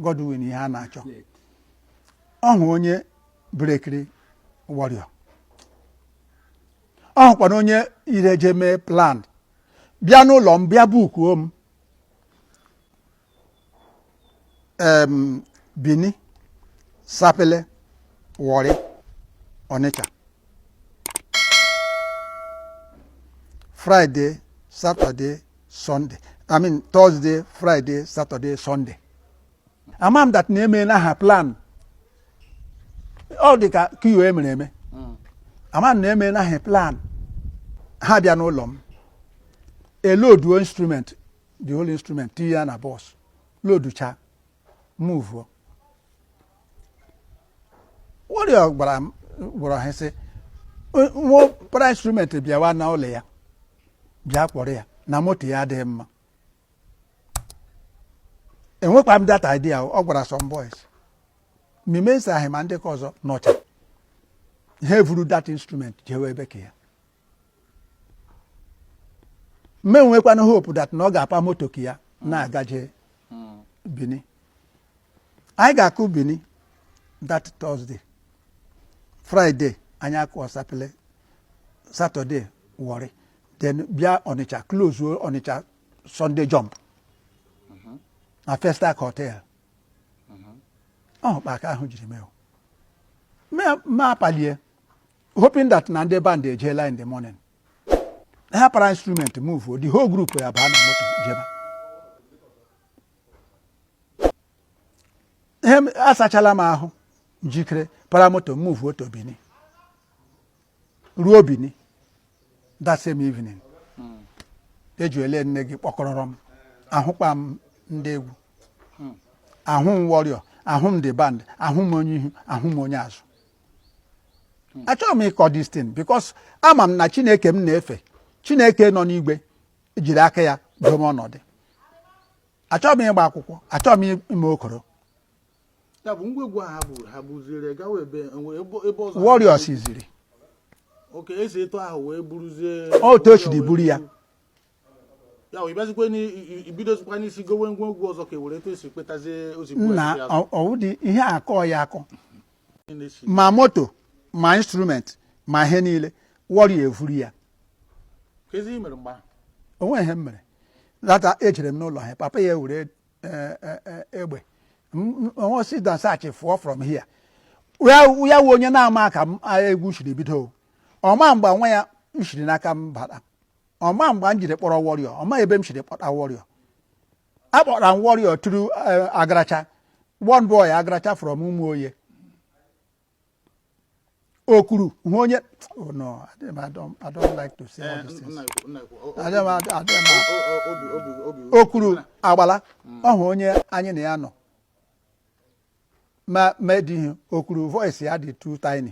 Godwin Iheanachọ ọ hụ onye brekiri warrior ọ hụkwanụ onye ireje mee plan bịa n'ụlọ m bịa bukuo m em Bini Sapele Warri Ọnịcha Friday Saturday Sunday. I mean Thursday, Friday, Saturday, Sunday. Ama m that na emena ha plan. Ọ dị ka coup e mere eme. Ama m na emena ha plan. Ha bịa n'ụlọ m. Eloduo instrument, the whole instrument, tinye ya na bus. Loducha, move. Warrior gwara ha sị nwa para instrument bịawa na ụlọ ya bịa kpọrọ ya na moto ya adịghị mma enwekwa m that idea ọ gwara some boys mime ịsaghị ma ndị ka ọzọ nọcha ha evuru that instrument jewe ebe ka ya mụ enwekwanụ hope that na ọ ga-apa moto ka ya na-agaje Bini anyị ga-akụ Bini that Thursday Friday anyị akụọ Sapele Saturday Warri then bịa Ọnịcha close Ọnịcha Sunday jump na Festac hotel ọ hụ kpa aka ahụ jiri mee mụ apalie hoping that na ndị band ejeela in the morning ha para instrument move the whole group ya baa na moto jeba ihe asachala m ahụ njikere para moto move to Bini ruo Bini that same evening ejuele nne gị kpọkọrọrọ m ahụkpa m ndị egwu ahụ m warrior ahụ m the band ahụ m onye ihu ahụ m onye azụ hmm. achọghị m ịkọ this thing because ama m na chineke m na-efe chineke nọ n'igwe jiri aka ya doo m ọnọdụ achọghị m ịgba akwụkwọ achọghị m ime okoro warriors ziri otu o siri buru ya ya wụ ịbịazikwa ni- i- i- ibidozikwa n'isi gowe ngwa egwu ọzọ ka e were etu esi kpetazie ozigbo nna esi azụ. ọwụdị ihe akọ ya akọ Ị na-esi- ma moto ma instrument ma ihe niile wọrị evuru ya ka ezi i mere mgbe ahụ o nweghị ihe m mere lata ejere m n'ụlọ ha papa ya were eh, eh, eh, egbe ọnwụsị dansachị fụọ from here ya ya wụ onye na-ama ka m agha egwu siri bido o. ọ ma mgbe nwa ya m siri n'aka m bara ọ ma mgbe m jiri kpọrọ Warrior ọ ma ebe m siri kpọta Warrior akpọtara m Warrior through eh, Agaracha one boy Agaracha from Umuoye okuru hụ onye oh no I don't, I don't like to say all these things okuru agbala ọ hụ onye anyị na ya nọ ma ma edighị o kwuru voice ya dị too tiny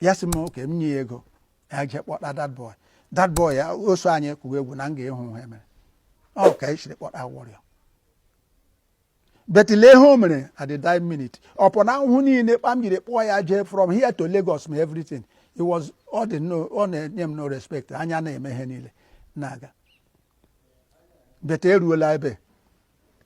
ya sị m okay m nye ya ego ya jee kpọta that boy that boy ya o so anyị kụwa egwu na m ga-ahụ ihe e mere ọ ka anyị shiri kpọta Warrior but lee ihe o mere at the dying minute upon ahụhụ niile kpa m jiri kpọọ ya jee from here to Lagos ma everything it was ọ dị no ọ na-enye m no respect anyị ana-eme ihe niile na-aga but eruola ebe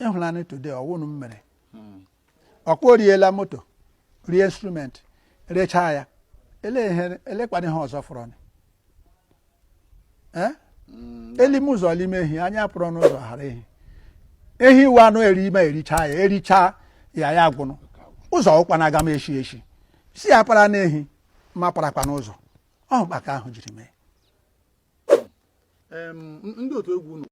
ị hụlanị today ọ wụnụ m mere hmm. ọkpọ riela moto rie instrument rechaa ya elekwana ihe ọzọ fọrọ eh? hmm. e lime ụzọ lime ehi anya para n'ụzọ ghara ehi ehi wụ anụ e rime ericha ya ericha ya ya agwụnụ ụzọ wụkwanụ aga m eshi eshi si ya para n'ehi ma parakwa n'ụzọ ọhụ kpaka ahụ jiri mee ndị otu egwu